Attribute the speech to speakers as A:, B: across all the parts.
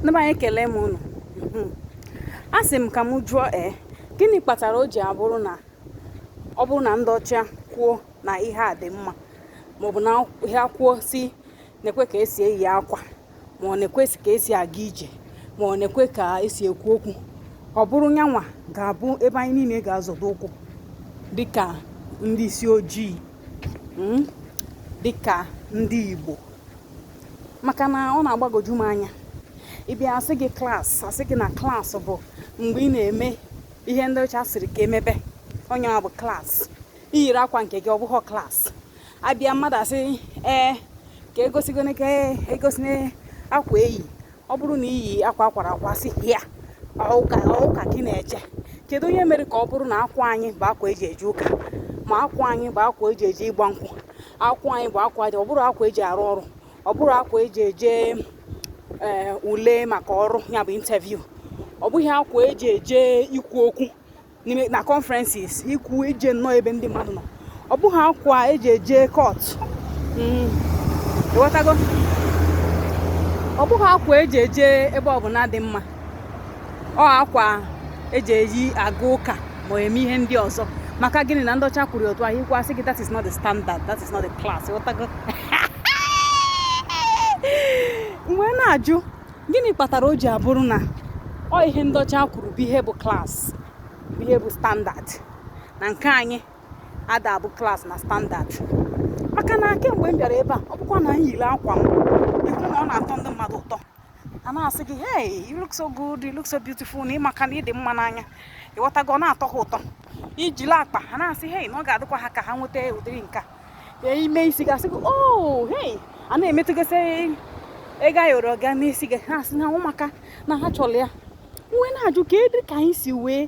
A: ndị be anyị ekele m unu hmm. a sị m ka m jụọ ee gịnị kpatara o ji abụrụ na ọ bụrụ na ndị ọcha kwuo na ihe a dị mma maọbụ na ha kwuo sị nekwe ka esi eyi akwa ma ọ nekwe sị ka esi aga ije ma ọ nekwe ka esi ekwu okwu ọ bụrụ nyanwa ga-abụ ebe anyị niile ga-azọdo ụkwụ dịka ndị isi ojii hmm? dịka ndị Igbo maka na ọ na-agbagoju m anya ịbịa asị gị class asị gị na class bụ mgbe ị na-eme ihe ndị ọcha sịrị ka emebe ọ nyanwa bụ class iyiri akwa nke gị ọ bụghị class abịa mmadụ asị ee ka egosigo ka egosi akwa eyi ọ bụrụ na iyi akwa akwara akwa sị ya ọ ụka ka ị na-eje kedu onye mere ka ọ bụrụ na akwa anyị bụ akwa eji eje ụka ma akwa anyị bụ akwa eji eje ịgba nkwụ akwa anyị bụ akwa dị ọ bụrọ akwa eji arụ ọrụ ọ bụrọ akwa eji eje eh, ule maka ọrụ ya bụ interview ọ bụghị akwa eji eje ikwu okwu na conferences ikwu ije nnọọ ebe ndị mmadụ nọ ọ bụghị akwa eji eje court hmm, ịghọtago ọ bụghị akwa eji eje ebe ọbụla dị mma ọ akwa eji eji aga ụka ma eme ihe ndị ọzọ maka gịnị na ndị ọcha kwuru otu ahụ ikwu asị gị that is not the standard that is not the class ịghọtago m wee na-ajụ gịnị kpatara o ji abụrụ na ọ ihe ndị ọcha kwuru bụ ihe bụ class bụ ihe bụ standard na nke anyị ada abụ class na standard maka na kemgbe m bịara ebe a ọ bụkwa na m yiri akwa m ịhụ na ọ na-atọ ndị mmadụ ụtọ a na-asị gị hey you look so good you look so beautiful na ịmaka na ịdị mma n'anya ịghọtago ọ na-atọ ha ụtọ ijila akpa ha na-asị hey na ọ ga-adịkwa ha ka ha nweta ụdịrị nke a ime isi gị asị gị oh hey a na-emetụgasị ego ayọrọ ga n'isi gị ha asị na ọ maka na ha chọrọ ya m wee na-ajụ kedu ka anyị si wee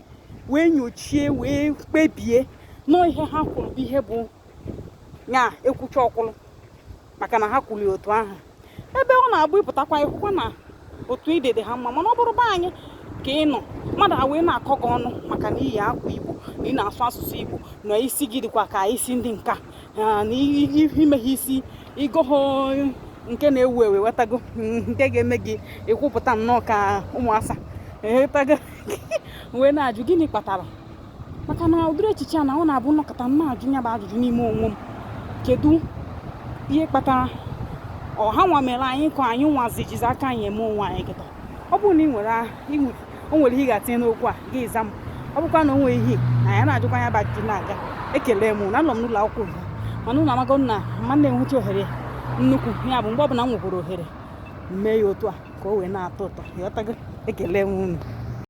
A: wee nyochie wee kpebie na ọ ihe ha kwuru bụ ihe bụ nya ekwucha ọ kwụrụ maka na ha kwuru otu ahụ ebe ọ na-abụ ịpụtakwa ịhụkwa na otu ị dị dị ha mma mana ọ bụrụ be anyị ka ị nọ mmadụ a wee na-akọ gị ọnụ maka na iyi akwa igbo na ị na-asụ asụsụ igbo na isi gị dịkwa ka isi ndị nka na imehọ isi igohọ nke na-ewu ewu ịghọtago nke ga-eme gị ịkwụpụta nnọọ ka ụmụ asa ịghọtago m wee na-ajụ gịnị kpatara maka na ụdịrị echiche a na ọ na-abụ m nọkata m na-ajụ ya bụ ajụjụ n'ime onwe m kedu ihe kpatara ọ ha nwa mere anyị ka anyị nwazi jizi aka anyị eme onwe anyị kịta ọ bụrụ na ị nwere o nwere ihe ị ga-atinye n'okwu a gị za m ọ bụkwa na o nwere ihe na ya na-ajụkwa ya bụ ajụjụ na-aga ekele m na anọ m n'ụlọ akwụkwọ ugbu a mana unu amago na m anaghị enwecha ohere nnukwu ya bụ mgbe ọ bụla m nwekwuru ohere mee ya otu a ka o wee na-atọ ụtọ ị ghọtago ekele m unu